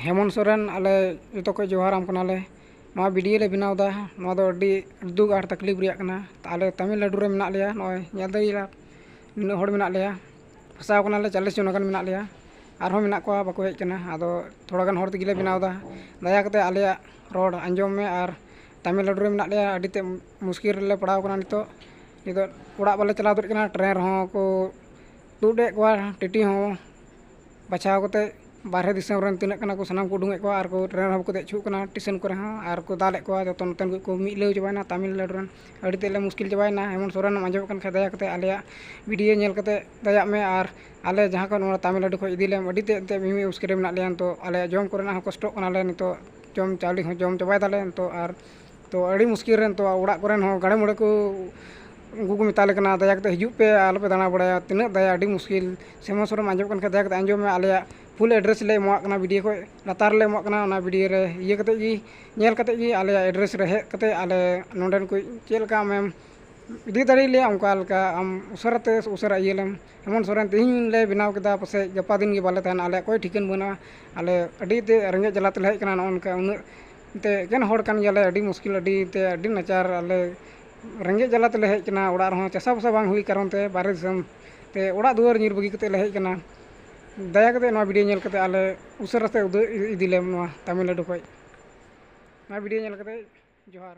ᱦᱮᱢᱚᱱ ᱥᱚᱨᱮᱱ ᱟᱞᱮ ᱡᱚᱛᱚ ᱠᱚ ᱡᱚᱦᱟᱨᱟᱢ ᱠᱟᱱᱟᱞᱮ ᱱᱚᱣᱟ ᱵᱷᱤᱰᱭᱳ ᱞᱮ ᱵᱮᱱᱟᱣ ᱮᱫᱟ ᱱᱚᱣᱟ ᱫᱚ ᱟᱹᱰᱤ ᱫᱩᱠ ᱟᱨ ᱛᱟᱹᱠᱷᱞᱤᱯ ᱨᱮᱭᱟᱜ ᱠᱟᱱᱟ ᱟᱞᱮ ᱛᱟᱹᱢᱤᱞᱱᱟᱹᱰᱩ ᱨᱮ ᱢᱮᱱᱟᱜ ᱞᱮᱭᱟ ᱱᱚᱜᱼᱚᱭ ᱧᱮᱞ ᱫᱟᱲᱮᱭᱟᱜᱼᱟ ᱱᱤᱱᱟᱹᱜ ᱦᱚᱲ ᱢᱮᱱᱟᱜ ᱞᱮᱭᱟ ᱯᱷᱟᱥᱟᱣ ᱠᱟᱱᱟᱞᱮ ᱪᱚᱞᱞᱤᱥ ᱡᱚᱱ ᱜᱟᱱ ᱢᱮᱱᱟᱜ ᱞᱮᱭᱟ ᱟᱨᱦᱚᱸ ᱢᱮᱱᱟᱜ ᱠᱚᱣᱟ ᱵᱟᱠᱚ ᱦᱮᱡ ᱠᱟᱱᱟ ᱟᱫᱚ ᱛᱷᱚᱲᱟ ᱜᱟᱱ ᱦᱚᱲ ᱛᱮᱜᱮ ᱞᱮ ᱵᱮᱱᱟᱣ ᱮᱫᱟ ᱫᱟᱭᱟ ᱠᱟᱛᱮᱫ ᱟᱞᱮᱭᱟᱜ ᱨᱚᱲ ᱟᱸᱡᱚᱢ ᱢᱮ ᱟᱨ ᱛᱟᱹᱢᱤᱞᱱᱟᱹᱰᱩ ᱨᱮ ᱢᱮᱱᱟᱜ ᱞᱮᱭᱟ ᱟᱹᱰᱤ ᱛᱮᱫ ᱢᱩᱥᱠᱤᱞ ᱨᱮᱞᱮ ᱯᱟᱲᱟᱣ ᱠᱟᱱᱟ ᱱᱤᱛᱚᱜ ᱱᱤᱛᱚᱜ ᱚᱲᱟᱜ ᱵᱟᱞᱮ ᱪᱟᱞᱟᱣ ᱫᱟᱲᱮᱭᱟᱜ ᱠᱟᱱᱟ ᱴᱨᱮᱹᱱ ᱨᱮᱦᱚᱸ ᱠᱚ ᱛᱩᱫ ᱮᱫ ᱠᱚᱣᱟ ᱴᱤᱴᱤ ᱦᱚᱸ ᱵᱟᱪᱷᱟᱣ ᱠᱟᱛᱮᱫ ᱵᱟᱦᱨᱮ ᱫᱤᱥᱚᱢ ᱨᱮᱱ ᱛᱤᱱᱟᱹᱜ ᱠᱟᱱᱟ ᱠᱚ ᱥᱟᱱᱟᱢ ᱠᱚ ᱩᱰᱩᱠᱮᱫ ᱠᱚᱣᱟ ᱟᱨ ᱠᱚ ᱴᱨᱮᱱ ᱨᱮᱦᱚᱸ ᱠᱚ ᱫᱮᱡ ᱦᱚᱪᱚᱜ ᱠᱟᱱᱟ ᱴᱮᱥᱚᱱ ᱠᱚᱨᱮ ᱦᱚᱸ ᱟᱨ ᱠᱚ ᱫᱟᱞᱮᱫ ᱠᱚᱣᱟ ᱡᱚᱛᱚ ᱱᱚᱛᱮᱱ ᱠᱚᱠᱚ ᱢᱤᱞᱟᱹᱣ ᱪᱟᱵᱟᱭᱮᱱᱟ ᱛᱟᱹᱢᱤᱞᱱᱟᱹᱰᱩ ᱨᱮᱱ ᱟᱹᱰᱤ ᱛᱮᱫ ᱞᱮ ᱢᱩᱥᱠᱤᱞ ᱪᱟᱵᱟᱭᱮᱱᱟ ᱦᱮᱢᱚᱱᱛ ᱥᱚᱨᱮᱱ ᱮᱢ ᱟᱸᱡᱚᱢᱮᱫ ᱠᱟᱱ ᱠᱷᱟᱡ ᱫᱟᱭᱟ ᱠᱟᱛᱮᱫ ᱟᱞᱮᱭᱟᱜ ᱵᱷᱤᱰᱭᱳ ᱧᱮᱞ ᱠᱟᱛᱮᱫ ᱫᱟᱭᱟᱜ ᱢᱮ ᱟᱨ ᱟᱞᱮ ᱡᱟᱦᱟᱸ ᱠᱷᱚᱱ ᱱᱚᱣᱟ ᱛᱟᱹᱢᱤᱞᱱᱟᱹᱰᱩ ᱠᱷᱚᱱ ᱤᱫᱤ ᱞᱮᱢ ᱟᱹᱰᱤ ᱛᱮᱫ ᱮᱱᱛᱮᱫ ᱢᱤᱢᱤᱫ ᱢᱩᱥᱠᱤᱞ ᱨᱮ ᱢᱮᱱᱟᱜ ᱞᱮᱭᱟ ᱱᱤᱛᱚᱜ ᱟᱞᱮᱭᱟᱜ ᱡᱚᱢ ᱠᱚᱨᱮᱱᱟᱜ ᱦᱚᱸ ᱠᱚᱥᱴᱚᱜ ᱠᱟᱱᱟᱞᱮ ᱱᱤᱛᱚᱜ ᱡᱚᱢ ᱪᱟᱣᱞᱮ ᱦᱚᱸ ᱡᱚᱢ ᱪᱟᱵᱟᱭ ᱫᱟᱞᱮ ᱱᱤᱛᱚᱜ ᱟᱨ ᱛᱚ ᱟᱹᱰᱤ ᱢᱩᱥᱠᱤᱞ ᱨᱮ ᱱᱤᱛᱚᱜ ᱚᱲᱟᱜ ᱠᱚᱨᱮᱱ ᱦᱚᱸ ᱜᱟᱲᱮ ᱢᱩᱲᱮ ᱠᱚ ᱩᱱᱠᱩ ᱠᱚ ᱢᱮᱛᱟᱞᱮ ᱠᱟᱱᱟ ᱫᱟᱭᱟ ᱠᱟᱛᱮᱫ ᱦᱤᱡᱩᱜ ᱯᱮ ᱟᱞᱚ ᱯᱮ ᱫᱟᱬᱟ ᱵᱟᱲᱟᱭᱟ ᱛᱤᱱᱟᱹᱜ ᱫᱟᱭᱟ ᱟᱹᱰᱤ ᱢᱩᱥᱠᱤᱞ ᱥᱤᱢᱟᱹ ᱥᱩᱨᱮᱢ ᱟᱸᱡᱚᱢ ᱠᱟᱱ ᱠᱷᱟᱱ ᱫᱟᱭᱟ ᱠᱟᱛᱮᱫ ᱟᱸᱡᱚᱢ ᱢᱮ ᱟᱞᱮᱭᱟᱜ ᱯᱷᱩᱞ ᱮᱰᱨᱮᱥ ᱞᱮ ᱮᱢᱟᱜ ᱠᱟᱱᱟ ᱵᱷᱤᱰᱭᱳ ᱠᱷᱚᱱ ᱞᱟᱛᱟᱨ ᱨᱮᱞᱮ ᱮᱢᱟᱜ ᱠᱟᱱᱟ ᱚᱱᱟ ᱵᱷᱤᱰᱭᱳ ᱨᱮ ᱤᱭᱟᱹ ᱠᱟᱛᱮᱫ ᱜᱮ ᱧᱮᱞ ᱠᱟᱛᱮᱫ ᱜᱮ ᱟᱞᱮᱭᱟᱜ ᱮᱰᱨᱮᱥ ᱨᱮ ᱦᱮᱡ ᱠᱟᱛᱮᱫ ᱟᱞᱮ ᱱᱚᱰᱮᱱ ᱠᱚ ᱪᱮᱫ ᱞᱮᱠᱟ ᱟᱢᱮᱢ ᱤᱫᱤ ᱫᱟᱲᱮ ᱞᱮᱭᱟ ᱚᱱᱠᱟ ᱞᱮᱠᱟ ᱟᱢ ᱩᱥᱟᱹᱨᱟ ᱛᱮ ᱩᱥᱟᱹᱨᱟ ᱤᱭᱟᱹ ᱞᱮᱢ ᱦᱮᱢᱚᱱ ᱥᱚᱨᱮᱱ ᱛᱮᱦᱮᱧ ᱞᱮ ᱵᱮᱱᱟᱣ ᱠᱮᱫᱟ ᱯᱟᱥᱮᱡ ᱜᱟᱯᱟ ᱫᱤᱱ ᱜᱮ ᱵᱟᱞᱮ ᱛᱟᱦᱮᱱᱟ ᱟᱞᱮᱭᱟᱜ ᱚᱠᱚᱭ ᱴᱷᱤᱠᱟᱹᱱ ᱵᱟᱹᱱᱩᱜᱼᱟ ᱟᱞᱮ ᱟᱹᱰᱤ ᱛᱮᱫ ᱨᱮᱸᱜᱮᱡ ᱡᱟᱞᱟ ᱛᱮᱞᱮ ᱦᱮᱡ ᱠᱟᱱᱟ ᱱᱚᱜᱼᱚ ᱱᱚᱝᱠᱟ ᱩᱱᱟᱹᱜ ᱮᱱᱛᱮᱫ ᱮᱠᱮᱱ ᱦᱚᱲ ᱠᱟᱱ ᱜᱮᱭᱟᱞᱮ ᱟᱹᱰᱤ ᱢᱩᱥᱠᱤᱞ ᱟᱹᱰᱤ ᱮᱱᱛᱮᱫ ᱟᱹᱰᱤ ᱱᱟᱪᱟᱨ ᱟᱞᱮ ᱨᱮᱸᱜᱮᱡ ᱡᱟᱞᱟ ᱛᱮᱞᱮ ᱦᱮᱡ ᱠᱟᱱᱟ ᱚᱲᱟᱜ ᱨᱮᱦᱚᱸ ᱪᱟᱥᱟ ᱵᱟᱥᱟ ᱵᱟᱝ ᱦᱩᱭ ᱠᱟᱨᱚᱱ ᱛᱮ ᱵᱟᱦᱨᱮ ᱫᱤᱥᱚᱢ ᱛᱮ ᱚᱲᱟᱜ ᱫᱩᱣᱟᱹᱨ ᱧᱤᱨ ᱵᱟᱹᱜᱤ ᱠᱟᱛᱮᱫ ᱞᱮ ᱦᱮᱡ ᱠᱟᱱᱟ ᱫᱟᱭᱟ ᱠᱟᱛᱮᱫ ᱱᱚᱣᱟ ᱵᱷᱤᱰᱭᱳ ᱧᱮᱞ ᱠᱟᱛᱮᱫ ᱟᱞᱮ ᱩᱥᱟᱹᱨᱟ ᱛᱮ ᱩᱫᱩᱜ ᱤᱫᱤ ᱞᱮᱢ ᱱᱚᱣᱟ ᱛᱟᱹᱢᱤᱞᱱᱟᱹᱰᱩ ᱠᱷᱚᱱ ᱱᱚᱣᱟ ᱵᱷᱤᱰᱭᱳ ᱧᱮᱞ ᱠᱟᱛᱮᱫ ᱡᱚᱦᱟᱨ